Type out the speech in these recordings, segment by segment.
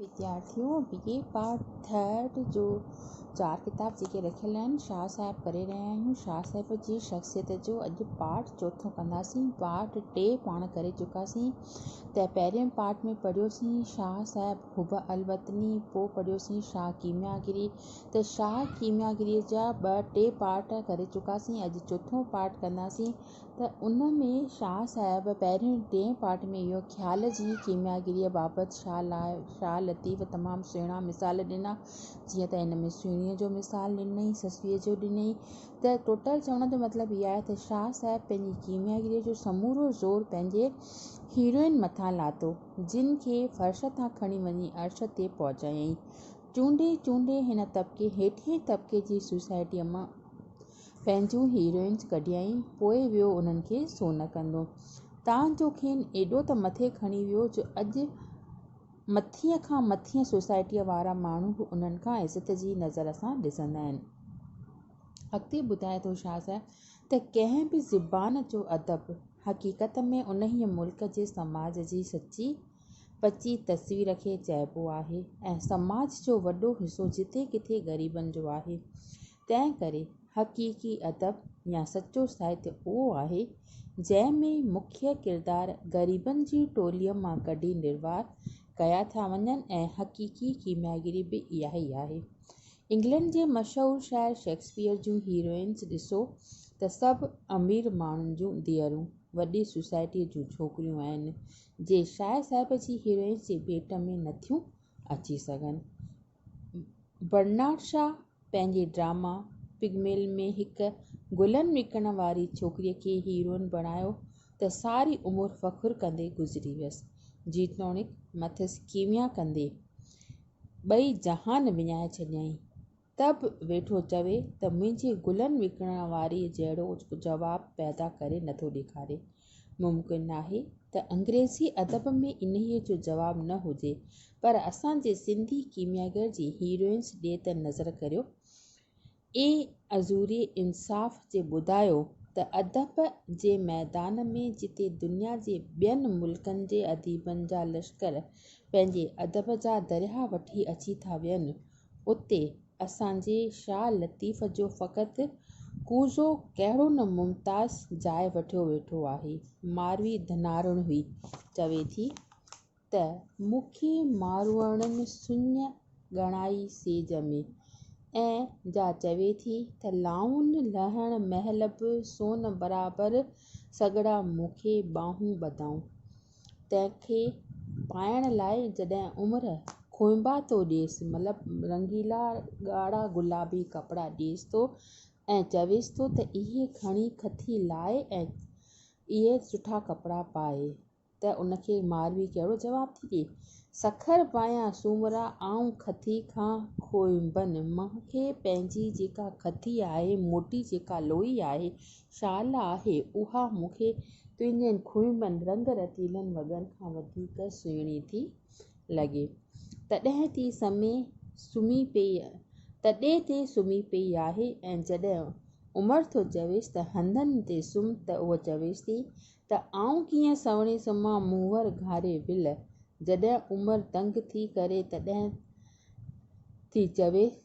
وڌيارٿيون B A part third جو چار ڪتاب جيڪي رکيل آهن شاهه صاحب ڪري رهيا آهيون شاهه صاحب جي شخصيت جو اڄ پارٽ چوٿون ڪنداسين پارٽ ٽي پاڻ ڪري چڪاسين ته پهرين پارٽ ۾ پڙهيوسين شاهه صاحب حب الوطني پوء پڙهيوسين شاهه ڪيميا گري ته شاهه ڪيميا گري جا ٻه ٽي پارٽ ڪري چڪاسين اڄ چوٿون پارٽ ڪنداسين ته ان ۾ شاهه صاحب پهرين ٽئين پارٽ ۾ اهو خيال جي ڪيمياگريء بابت شاهه لطيف تمام سهڻا مثال ڏنا، جيئن ته ان ۾ سهڻيء جو مثال ڏنئي، سسئيء جو ڏنئي، ته ٽوٽل چوڻ جو مطلب اهو آهي ته شاهه صاحب پنهنجي ڪيمياگريء جو سمورو زور پنهنجي هيروئن مٿان لاٿو، جنهن کي فرش تان کڻي وڃي عرش تي پهچايائين. چونڊي چونڊي هن طبقي هيٺئين طبقي جي سوسائٽيء مان پنهنجون هيروئنز ڪڍيائين، پوء ويو انهن کي سونهن ڪندو. تان جو کين ايڏو ته مٿي کڻي ويو جو اڄ مٿينء کان مٿينء سوسائٽيء وارا ماڻهو به انهن کان عزت جي نظر سان ڏسندا آهن. اڳتي ٻڌائي ٿو شاهه صاحب ته ڪنهن به زبان جو ادب حقيقت ۾ انهيء ملڪ جي سماج جي سچي پچي تصوير کي چئبو آهي ۽ سماج جو وڏو حصو جتي ڪٿي غريبن جو آهي. تنهن ڪري حقيقي ادب يا سچو ساهتيه اهو آهي، جنهن ۾ مکيه ڪردار غريبن جي ٽوليء مان ڪڍي نروار ڪيا ٿا وڃن ۽ حقيقي ڪيمياگري به اها ئي آهي. انگلنڊ جي مشهور شاعر شيڪسپيئر جون هيروئنز ڏسو ته سڀ امير ماڻهن جون ڌيئرون، وڏي سوسائٽيء جون ڇوڪريون آهن، جي شاعر صاحب جي هيروئنز جي ڀيٽ ۾ نٿيون اچي سگهن. برنارڊ شا پنهنجي ڊراما پگملين ۾ هڪ گلن وڪڻڻ واري ڇوڪري کي هيروئن بڻايو ته ساري عمر فخر ڪندي گذري ويس جيتوڻيڪ مٿس ڪيميا ڪندي ٻئي جهان وڃائي ڇڏيائين ته به ويٺو چوي ته منهنجي گلن وڪڻڻ واري جهڙو جواب پيدا ڪري نٿو ڏيکاري ممڪن ناهي ته انگريزي ادب ۾ انهيء جو جواب نه هجي، پر اسان جي سنڌي ڪيمياگر جي هيروئنس ڏي ته نظر ڪريو. اي عذوري انصاف جي ٻڌايو ته ادب جي ميدان ۾ جتي دنيا جي ٻين ملڪن جي اديبن جا لشڪر پنهنجي ادب جا درياهه وٺي اچي ٿا ويهن، اتي اسان جي شاهه لطيف جو فقط ڪوزو ڪهڙو نه ممتاز جاء وٺيو ويٺو آهي. ماروي ڌناروڻ هئي. چوي ٿي ته مون کي ماروئڙن سڃ ڳڻائي سيج ۾. ائين جا چوي ٿي ته لائون لهڻ مهل به سون برابر سڳڙا مون کي ٻانهون ٻڌائون. تنهن کي پائڻ لاء جڏهن عمر کوئنبا ٿو ڏيس، مطلب رنگيلا ڳاڙها گلابي ڪپڙا ڏيس ٿو ۽ چويس ٿو ته اهي کڻي کٿي لاء ۽ اهي سٺا ڪپڙا پائي ته ان کي ماروي ڪهڙو جواب ٿي ڏئي، سکر پايان سومرا آئون کٿي کان کوئنبن، مون کي پنهنجي جيڪا کٿي آهي، موٽي جيڪا لوئي آهي، شال آهي اها مون کي تنهنجن کهيمن رنگ رتيلن وڳن کان وڌيڪ سهڻي ٿي لڳي. تڏي تي سمي سمهي پيئي تڏي تي سمهي پيئي آهي ۽ جڏهن عمر ٿو چويس ته هنڌن تي سمهه ته هوء چويس ٿي ته آئون ڪيئن سهڻي سمهان منهور گهاري ول جڏهن عمر تنگ ٿي ڪري تڏهن ٿي چوي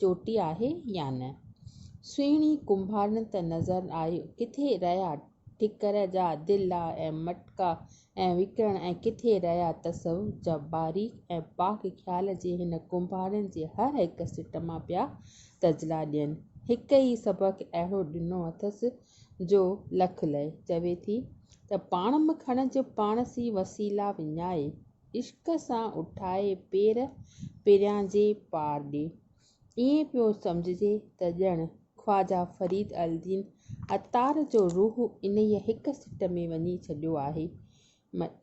چوٽي آهي يا نه؟ سهڻي ڪنڀارن ته نظر آئي، ڪٿي رهيا ٺڪر جا دلا ۽ مٽڪا ۽ وڪڻ ۽ ڪٿي رهيا تصوف جا باريڪ ۽ پاڪ خيال جي هن ڪنڀارن جي هر هڪ سٽ مان پيا تجلا ڏين. هڪ ئي سبق اهڙو ڏنو اٿس جو لک لئي. چوي ٿي ته پاڻ م کڻج پاڻ سين وسيلا وڃائي. عشق سان اٺائي پير پريان جي پار ڏي. ائين پيو سمجهجي ته ڄڻ خواجه فريد الدين عطار جو روح انهيء هڪ سٽ ۾ وڃي ڇڏيو آهي،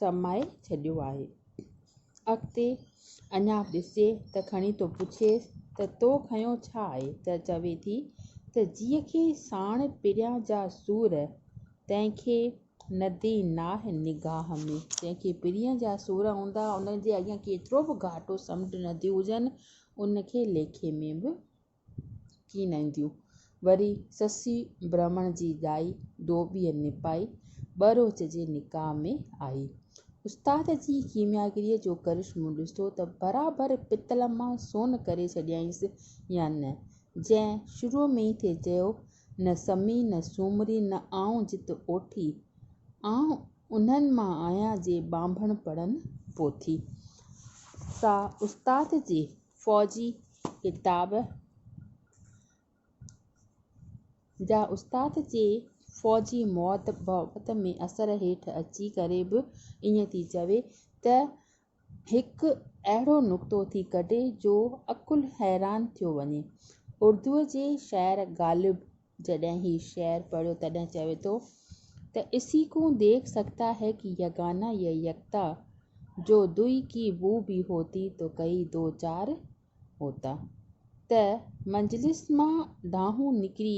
سمائي ڇڏيو آهي. اڳتي اڃا به ڏسجي ته کڻي ٿو پڇيس ته تو کنيو ڇا آهي؟ ته چوي ٿي ته جيء کي ساڻ پريان جا سور، تنهن کي ندي ناهه نگاهه ۾، جنهن کي پرينء جا سور هوندا، ان جي اڳيان ڪيترو به گهاٽو سمنڊ نديون هجن، ان کي ليکي ۾ به ڪين اينديون. وري سسي برهمڻ جي ڏائي، ڌوٻيء نپائي، ٻه روچ جي نڪاح ۾ آئي. استاد جي ڪيمياگريء جو ڪرشمو ڏسو ته برابر پتل مان سون ڪري ڇڏيائينس يا نه، جنهن شروع ۾ ئي ٿي چيو نه سمي نه سومري نه آئون جت اوٺي، آئون انهن مان آهيان جي ٻانڀڻ پڙهن پوٿي. سا استاد جي فوجي ڪتاب جا استاد جي فوجي موت بابت ۾ اثر هيٺ اچي ڪري به ائين ٿي چوي ته هڪ اهڙو نڪتو ٿي ڪڍي جو عقل حيران ٿيو وڃي. اردوء جي شاعر غالب جڏهن هي شعر پڙهيو تڏهن چوي ٿو ته اسي ڪون ديک سگهتا هي ڪي يگانا يي يڪتا، جو دوئي ڪي بو بي هوتي تو ڪئي دو چار هوتا. ته مجلس مان ڊاهون نڪري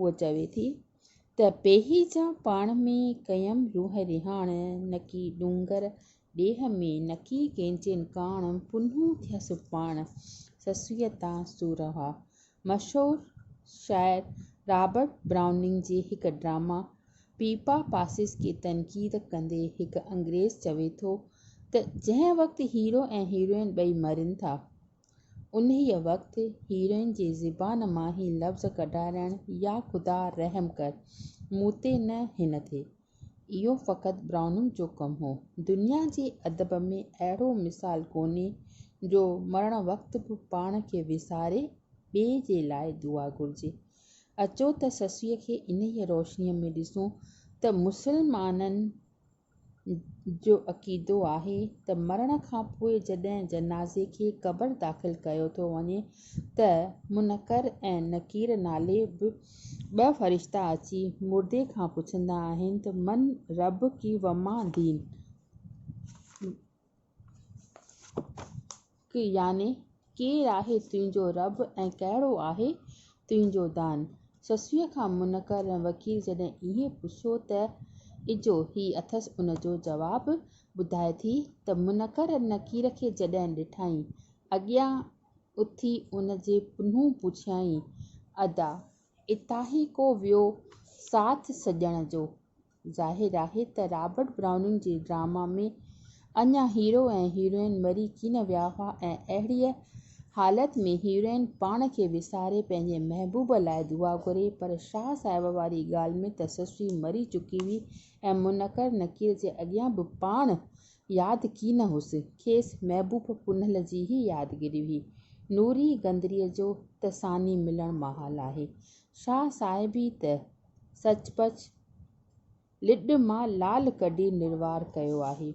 هوء چوي ٿي ته پيهي جا پاڻ ۾ ڪيم روح رهاڻ، نڪي ڏونگر ڏيهه ۾ نڪي ڪينچين ڪاڻ، پنهون ٿيا سڀاڻ سسئيء تان سورهوا. مشهور شاعر رابرٽ برائوننگ جي هڪ ڊراما پيپا پاسز کي تنقيد ڪندي هڪ انگريز چوي ٿو ته جنهن وقت هيرو ۽ هيروئن ٻئي مرين ٿا انهيء وقت هيروئن جي زبان مان هي لفظ ڪڍارائڻ يا خدا رحم ڪر! مون تي نه هن تي! اهو فقط برائوننگ جو ڪم هو. دنيا جي ادب ۾ اهڙو مثال ڪونهي جو مرڻ وقت به پاڻ کي وساري ٻئي جي لاء دعا گهرجي. اچو ته سسئيء کي انهيء روشنيء ۾ ڏسون ته مسلمانن جو عقيدو آهي ته مرڻ کان پوء جڏهن جنازي کي قبر داخل ڪيو ٿو وڃي ته منڪر ۽ نڪير نالي ٻه فرشتا اچي مردي کان پڇندا آهن ته من ربڪي وما دين؟ يعني، ڪير آهي تنهنجو رب ۽ ڪهڙو آهي تنهنجو دان؟ سسويء کان منڪر ۽ وڪيل جڏهن اهي پڇيو ته اجهو هي اٿس ان جو جواب ٻڌائي ٿي ته منڪر نڪير کي جڏهن ڏٺائين اڳيان اٿي ان جي پنهون پڇيائين ادا اتاهي ڪو ويو ساٿ سڄڻ جو؟ ظاهر آهي ته رابرٽ برائوننگ جي ڊراما ۾ اڃا هيرو ۽ هيروئن مري ڪين ويا هئا ۽ اهڙيء حالت ۾ هيروئن پاڻ کي وساري پنهنجي محبوب لاء دعا گهري پر شاهه صاحب واري ڳالهه ۾ ته سسئي مري چڪي هئي ۽ منڪر نڪير جي اڳيان به پاڻ ياد ڪين هئس کيس محبوب پنهل جي ئي يادگيري هئي نوري گندريء جو ته ثاني ملڻ محال آهي شاهه صاحب ئي ته سچ پچ لڏ مان لال ڪڍي نروار ڪيو آهي.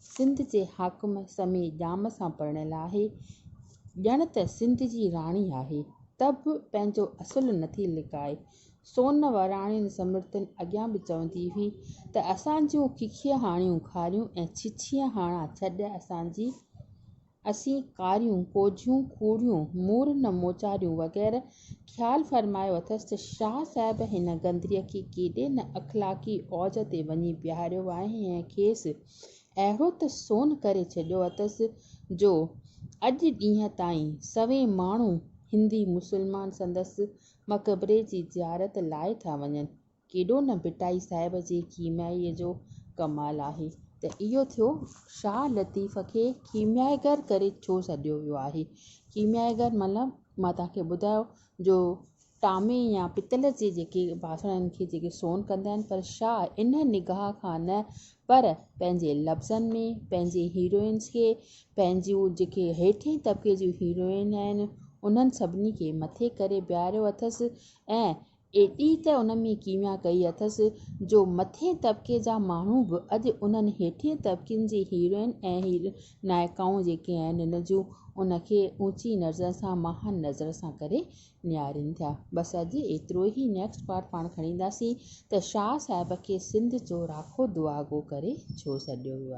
سنڌ جي حاڪم سمي ڄام سان پرڻيل آهي. ڄڻ ته سنڌ جي راڻي آهي. ته به پنهنجو اصل نٿي لڪائي. سون وراڻين سمرتين اڳيان به چوندي هئي ته اسان جون ککيهاڻيون کاريون ۽ ڇڇيهاڻا ڇڏ اسان جي اسين ڪاريون ڪوجهيون کوڙيون، مور نه موچاريون وغيره خيال فرمايو اٿس ته شاهه صاحب هن گندريء کي ڪيڏي نه اخلاقي اوج تي وڃي بيهاريو آهي ۽ کيس اهڙو ته سون ڪري ڇڏيو اٿس جو اڄ ڏينهن تائين سوين ماڻهو هندي مسلمان سندس مقبري جي زيارت لاء ٿا وڃن. ڪيڏو نه ڀٽائي صاحب جي ڪيميائيء جو ڪمال آهي ته اهو ٿيو شاهه لطيف کي ڪيميائيگر ڪري ڇو سڏيو ويو آهي؟ ڪيميائيگر مطلب مان توهان کي ٻڌايو جو ٽامي يا پتل جي جيڪي باسڻن کي جيڪي سون ڪندا آهن پر شاهه ان نگاهه کان نه پر پنهنجي لفظن ۾ پنهنجي هيروئنس کي پنهنجون جيڪي هيٺين طبقي جون هيروئن آهن انهن سڀني کي مٿي ڪري بيهاريو اٿس ۽ ايتري ته ان ۾ ڪيميا ڪئي اٿس جو مٿين طبقي جا ماڻهو به اڄ انهن هيٺين طبقن جي هيروئن ۽ نائڪائون جيڪي آهن ان جون ان کي اوچي نظر سان مهان نظر سان ڪري نهارين ٿيا. بس اڄ ايترو ئي نيڪسٽ پارٽ پاڻ کڻينداسين ته شاهه صاحب کي سنڌ جو راکو دعاگو ڪري ڇو سڏيو ويو آهي.